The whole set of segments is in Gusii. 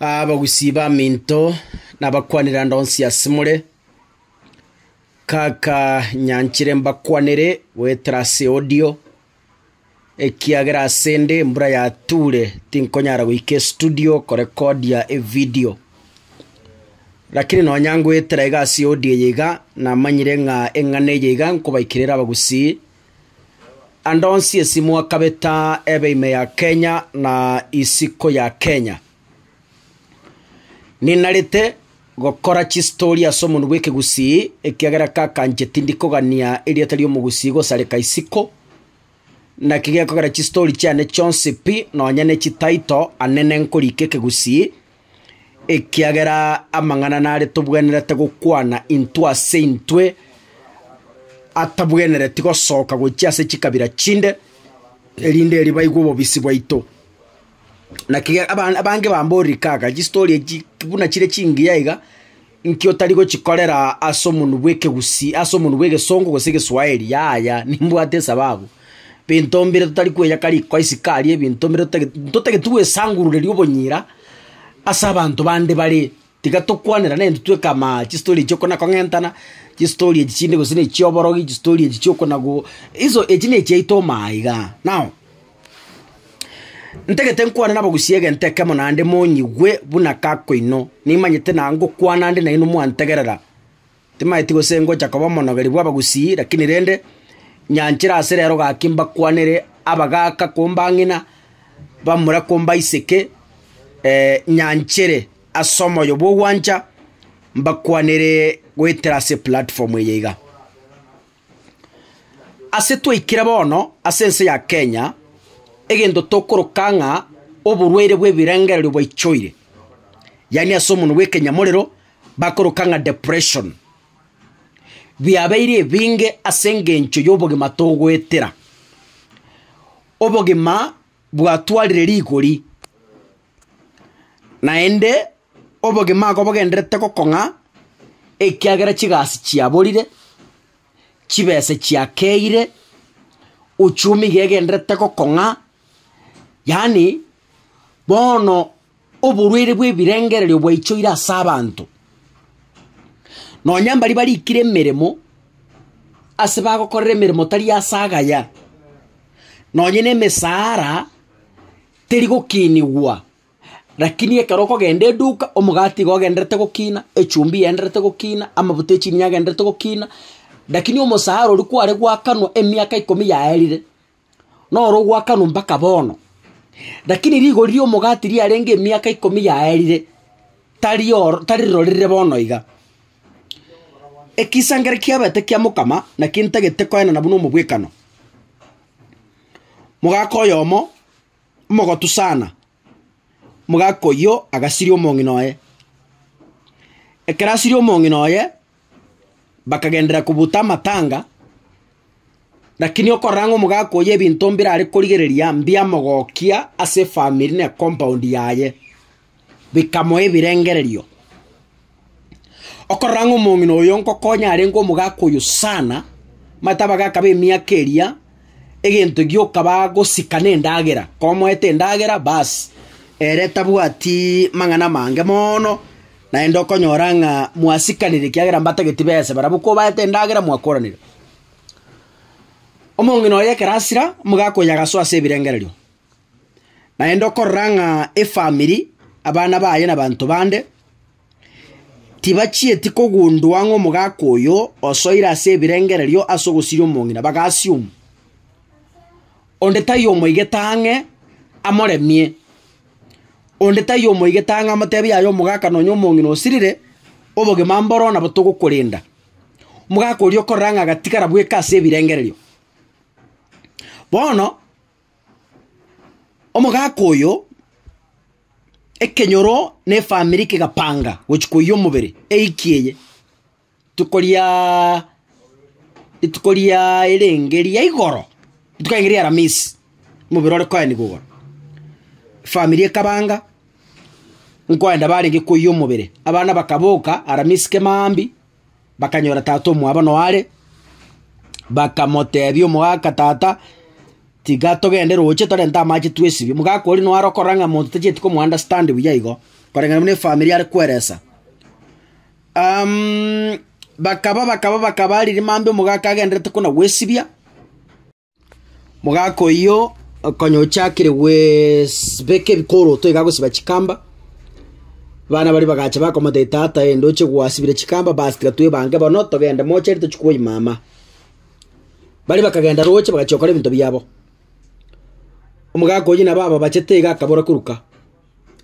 Abagusi b'aminto nabakwanirande onsi asemore, kaka nyanchire mbakwanere goetera ase audio, ekiagera asende embura yature tinkonyara goika estudio korekodia evidio. Rakini nonya ngoetera iga ase audio eye iga, namanyire ng'a eng'ana eye iga nkobaikera ere abagusi Andonsi esimo akabeta ebe ime ya Kenya na isiko ya Kenya. Ninarete gokora chistori ase omonwa bw'ekegusii ekiagera kakanche tindi kogania erieta ri'omogusii gosareka isiko. Naki gekogera chistori chiane chionsi pi nonya ne chitaito ane nenkorika ekegusii ekiagera amang'ana nare tobwenerete gokwana intwe ase intwe, atabwenereti gosoka gochia ase chikabira chinde, erinde erio baigwe obobisi bwaito. Naki abange bamborire kaka, chistori echi buna chire chingiya iga. Inki otari gochikorera ase omonwa bw'ekegusii, ase omonwa bw'egesongo, gose egeswahili? Yaya, nimbwate esababu. Binto mbire totari kweyaka riko isiko aria, ebinto mbire totageti, ntotageti gwesangurureria obonyira ase abanto bande bare. Tiga tokwanera nere intwe tweka ama chistori echio kona kong'entana, chistori echi chinde gose ne chioborogi, chistori echi chi'okonago, iso echi ne chiaito omo aiga. Now. Ntagete nkwane nabogusie egento ekemo naende monyigwe buna kako inwe. Nimanyete na ngokwana ande nainwe mwantegerera. Timanyeti gose ngocha koba omonogeri bw'abagusii, lakini rende nyanchere ase rero gaki mbakwanere abagaka kombang'ina, bamura kombaiseke, nyanchere ase omoyo bw'ogwancha, mbakwanere goetera ase eplatform eye iga. Ase twaikire bono ase ense ya Kenya, egento tokoroka ng'a oborwaire bw'ebirengererio bwaichoire, yaani ase omonwa bw'ekenyamorero bakoroka ng'a depression. Biabeire ebinge ase engencho y'obogima togoetera. Obogima bwatwarire rigori. Naende obogima ako bogendererete gokong'a ekiagera chigasi chiaborire, chibese chiakeire, uchumi iga egendererete gokong'a, yaani bono oborwaire bwa ebirengererio bwaichoire ase abanto. Nonya mbaria barikire emeremo, ase bagokorera emeremo tari ase agaya, nonye na emesara. Teri gokinigwa. Rakini ekero okogenda eduka, omogati iga ogenderete gokina, echumbi yenderete gokina, amabuta e chinyanya agenderete gokina, rakini omosara oria kware gwakanwa emiaka ikomi yaerire, noro ogwakanwa mpaka bono. Rakini rigori ri'omogati riarenge emiaka ikomi yaerire, tari oro tari rirorire bono iga. Ekisangererio kiabete kia mokama, naki ntagete koenana buna omobwekano. Mogaka oyomo, omogotu sana, mogaka oyio agasiria omong'ina oye. Ekero asirie omong'ina oye, bakagenderera kobuta amatanga, lakini okorora ng'a omogaka oyio ebinto mbirare korigereria mbiamogokia ase efamiri na ecompaund yaye. bikamoa ebirengererio. Okorora ng'a omong'ina oyo ngokonya arenge omogaka oyo sana, omanyete abagaka b'emiaka eria, egento gioka bagosika nendagera, komoete endagera baas, ere tabwatiiii mang'ana amange moono, naende okonyora ng'a mwasikanire ekiagera mbatageti besa barabwo kobaete endagera mwakoranire. Omong'ina oye ekero asira, omogaka oyo agasoa ase ebirengererio. Naende okorora ng'a efamiri, abana baye na abanto bande, tibachieti kogundwa ng'a omogaka oyo osoire ase ebirengererio ase ogosiria omong'ina, baga assume. Onde taiyo omoigete ang'e amoremie, onde taiyo omoigete ang'e amotebi yaya omogaka nonye omong'ina osirire, obogima mboro nabo togokorenda. Omogaka oria okorora ng'a agatigara bweka ase ebirengererio. Bono. Omogaka oyo ekenyoro na efamiri kegapanga gochia koiyia omobere ewiki eye. Rituko riaaa rituko riaaa erenge ria igoro, rituko erenge ria aramisi, omobere ore koenigwa igoro. Efamiri ekabanga nkoenda barenge koiyia omobere, abana bakaboka aramisi kemambia. bakanyora tata omwabo noo are, bakamotebia omogaka, Tata, tiga togende roche torente amache twesibie. Omogaka oria noo are okorora ng'a monto tachieti komo understand buya igo, koreng'ana buna efamiri are kweresa. Bakaba, bakaba, bakaba riria mambia omogaka agenderete kona gwesibia. Omogaka oyio konya ochakire gwesibeka ebikoroto iga agosiba chikamba, abana baria bagacha bakomotebia, Tata ee, ndoche gwasibire chikamba, bas tiga twebange bono togende moche ere tochie kwoyia mama. Baria bakagenda roche bagachia gokora ebinto biabo. Omogaka oyio nabo ababachete iga akabora koruka,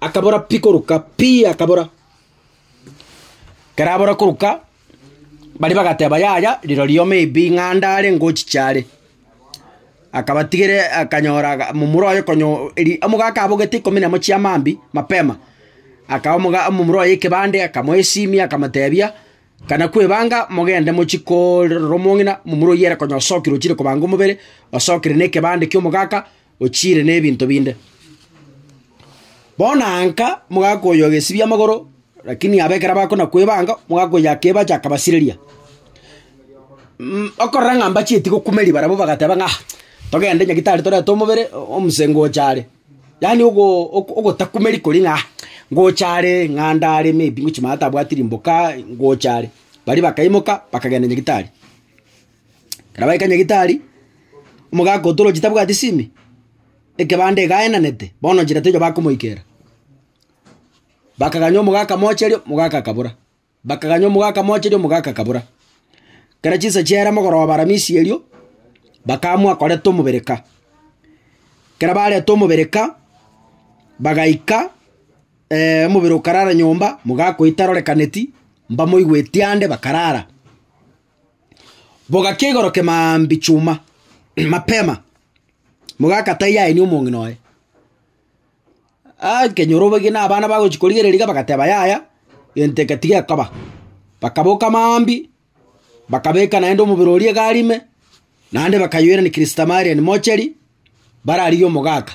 akabora pi koruka, pi akabora. Ekero abora koruka, Baria bagateba, Yaya, rirorio ime pi ng'a ande are ngochiche are. Akabatigere akanyora aga momura oye konyo eri omogaka abogete ikomi na emo chia mambia mapema, akaha omoga omomura oye ekebande akamoesimia akamotebia, Kana kwebanga mogende mochi korora omong'ina, momura oyio ere konya osokire ochire kobanga omobere, osokire na ekebande kia omogaka, ochiire nebinto binde. Bono aa nka mogakoyoa gesibia amagoro, lakini aba ekero bakona kwebanga, mogakoyoa akebache akabasireria. Mh okorora ng'a mbachieti gokumeria barabwo bagateba ng'a ah togende nyagitari torete omobere o- omse ngocha are. Yaani ogo oko- ogotakumeri koria ng'a ah ngocha are ng'a ndare maybe ngochia mama tabwati rimboka ngocha are. Baria bakaimoka bakagenda nyagitari. Ekero baika nyagetari, omogaka otoroche tabwati simi, ekebanda iga aenanete, bono nchera terio bakomoikera. Bakaganya omogaka mocherio, omogaka akabora, bakaganya omogaka mocherio, omogaka akabora. Ekero chinsa chiaera mogoroba aramisi erio, bakaamua koreta omobereka. Ekero bareta omobereka, bagaika omobere okarara nyomba, mogaka oito arorekaneti, mbamoigweti ande bakarara. bogakia igoro kemaambi chuma mapema, mogaka tai yaini omong'ina oye. Aa nkenyora obogima na abana bagochi korigereria iga bagateba yaya, egento eke tigekoba. Bakaboka maambi, bakabeka naende omobere oria egari ime. Naende bakayoirania Kristamareni mocheri, bararigie omogaka.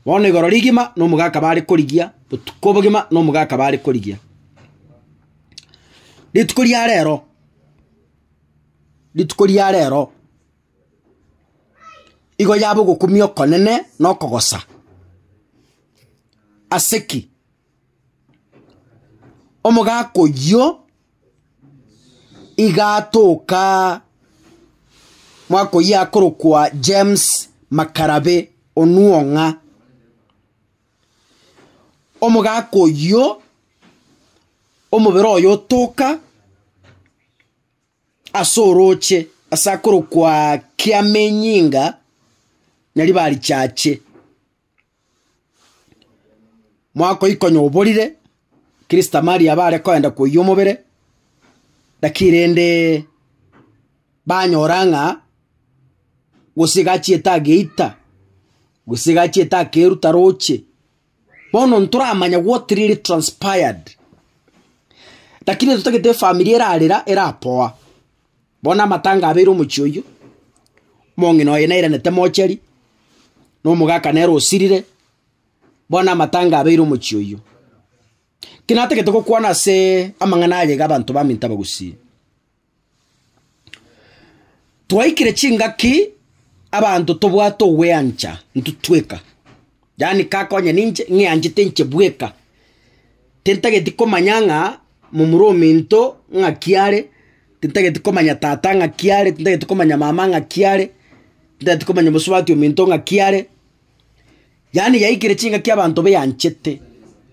Bono igoro rigima nomogaka bare korigia, botuko bogima nomogaka bare korigia. Rituko ria rero, rituko ria rero igo yaba ogokumia okonene na okogosa. Ase ki? Omogaka oyio iga atoka mwaka oyio akorokwa James Makarabe Onuong'a. Omogaka oyio omobere oye otoka ase oroche ase akorokwa Kiamenyinga Nyaribari Chache. Mwakoikonya oborire, Kristo tamaria abare koenda koiyia omobere, naki rende banyora ng'a gose iga achiete ageita, gose iga achiete akeruta roche. Bono ntoramanya what really transpired. Lakini ntogetee efamiri erarera, erapoa. Bono amatanga abeire omochie oyio, omong'ina oye nairanete mocheri, na omogaka nere osirire, bono amatanga abeire omochie oyio. Ki natagete gokwana ase amang'ana aya iga abanto baminto abagusii, twaikire chingaki abanto tobwate ogweancha intwe tweka. Yaani kakonya ninche ng'eanchete inche bweka. Tintageti komanya ng'a momura omento ng'aki are, tintageti komanya tata ng'aki are, tintageti komanya mama ng'aki are, tintageti komanya omosubati omento ng'aki are. Yaani yaikire chingaki abanto beanchete,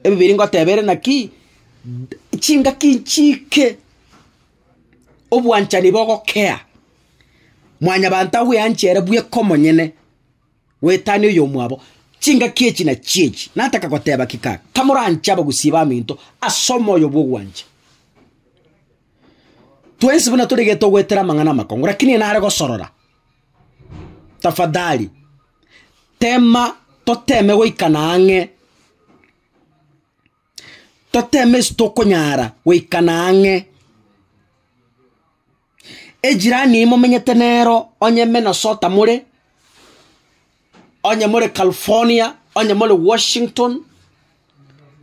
ebibiri ngoteba ere naki, chingaki nchiike obwanchani bogokea, mwanyabanto agoeanche ere bweka omonyene. Goetania oyomwabo chingaki echi na chiechi, nataka goteba ki kaka? Kamoranche abagusii baminto ase omoyo bw'ogwancha. Twensi buna tore iga togoetera amang'ana amakongo, rakini nare gosorora. Tafadhali, tema toteme goikana ang'e, toteme ase tokonyara goikana ang'e. Ejirani eye momenyete nero onye Minnesota more, onye more California, onye more Washington,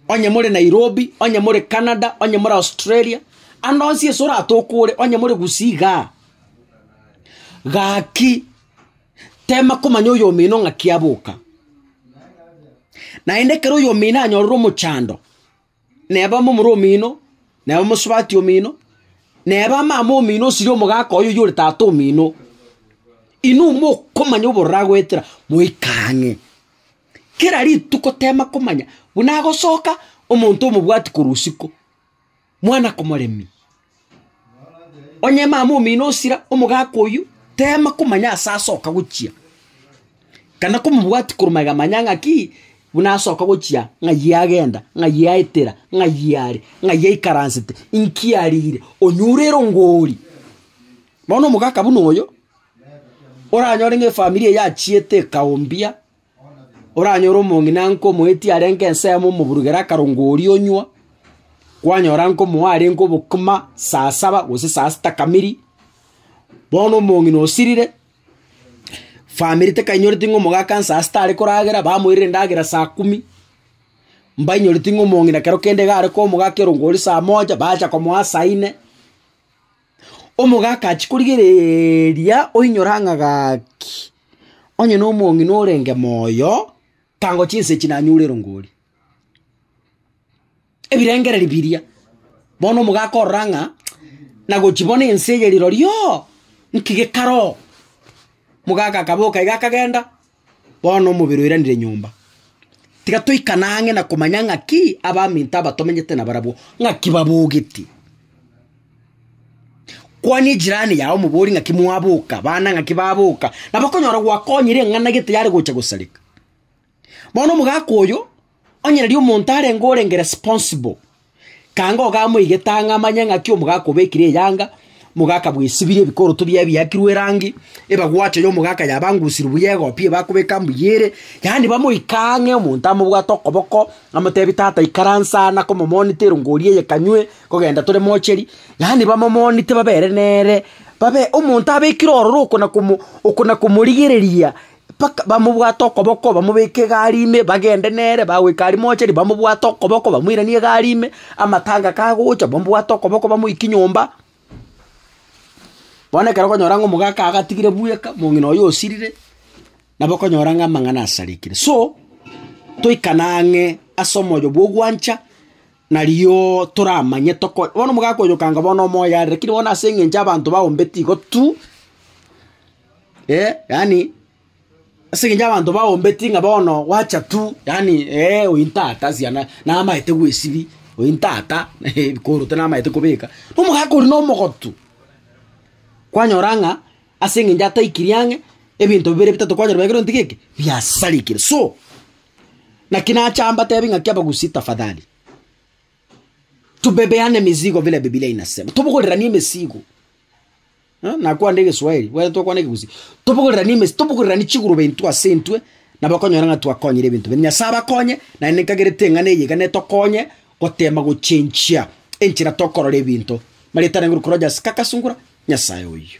onye more Nairobi, onye more Canada, onye more Australia, ande onsi ase oratoke ore, onye more Gusii igaa, gaki tema komanya oyomino ng'aki aboka. Naende ekero oyomino anyorire omochando, neba momura omino, neba omosubati omino, neba amama omino osirie omogaka oye oyore tata omino, inwe mokomanya obororo agoetera, moika ang'e. Kera rituko tema komanya buna agosoka omonto omobwati korwa isiko, mwana komoremia. Onye mama omino osira omogaka oyio, tema komanya ase asoka gochia, kana komobwati korwa magega manya ng'aki, buna asoka gochia ng'ai agenda, ng'ai aetera, ng'ai are, ng'ai aikaransete, inki arire, onyure erongori. Bono omogaka buna oyo, oranyore ng'a efamiri eye yachiete ekaombia, Oranyore omong'ina nkomoetie arenge ensemo omoburugere akarongwa oria onywa, kwanyora nkomoa arenge obokima saa saba gose saa sita kamiri, bono omong'ina osirire, famiri tekainyoreti ng'a omogaka nsa sita are koragera, bamoirire endagera saa kumi, mbainyoreti ng'a omong'ina kero kende iga are koa omogaka erongo oria saa moja, bacha komoa saa ine. Omogaka achia korigereria oinyore ang'a gaki, onye nomong'ina orenge moyo, tango chinsa echi nanyure erongori. Ebirengererio biria, bono omogaka orora ng'a nagochi bono ense eye rirorio, nki gekara oo. Mogaka akaboka iga akagenda, Bono omobere oiranire nyomba. Tiga toikane ang'e na komanya ng'aki abaminto aba tomenyete nabarabwo ng'aki babogete. Kwania ejirani yao omobori ng'aki mwaboka, bana ng'aki baboka, nabo okonyora gwakonyire eng'ana gete yare gocha gosareka. Bono omogaka oyo. Onye riria omonto arenge orenge responsible, kanga ogamoigete ang'e amanye ng'aki omogaka obekire eyanga, mogaka bwesibire ebikoroto biaye biakirwe erangi, ebagwacho y'omogaka yabangusirwe buya egopia ebakobeka mbuya ere, yaani bamoike ang'e omonto amobwate okoboko, amotebi tata ikaransa aa nakomomonita erungo oria eye kanywe, kogenda tore mocheri, yaani bamomonite babere nere, babe omonto abekire ororo oko nakomo oko nakomorigereria. Baka bamobwate okoboko, bamobeke egari ime, bagende nere, bagoika aria mocheri, bamobwate okoboko, bamoiranie egari ime, amatanga kagocha, bamobwate okoboko bamoikie nyomba. Bono ekero okonyora ng'a omogaka agatigire bweka, mong'ina oye osirire, nabo okonyora ng'a amang'ana asarekire. So, toikane ang'e ase omoyo bwa ogwancha, narioo toramanye toko bono omogaka oyokanga bono omoyo are, rakini bono ase eng'encho abanto bagombeti igo tu. eh, yani ase eng'encho abanto baombeti ng'a bono gwacha tu yani eh, oyi ntata siana namaete gwesibia oyi ntata ebikorote namaete kobeka, na omogaka oria na omogotu. Kwanyora ng'a ase eng'encho ataikiri ang'e, ebinto bibere bitato kwanyora biagerete nonye tigiki, biasarigire. So, naki nacha mbatebi ng'aki abagusii tafadhali, tubebeane mizigo vile Bibilia inasema, tobogoreranie emesigo, Eh, nakwande egeswahili bwete twakwana ekegusii tobogorerani emesi tobogorerani chigurube intwe ase intwe nabo okonyora ng'a twakonyire ebinto binde nyasae abakonye naende ninkagerete eng'ana eye iga netokonye gotema gochenchia enchera tokorora ebinto marieta aria ngorokwa rogers kaka sungura nyasae oyio.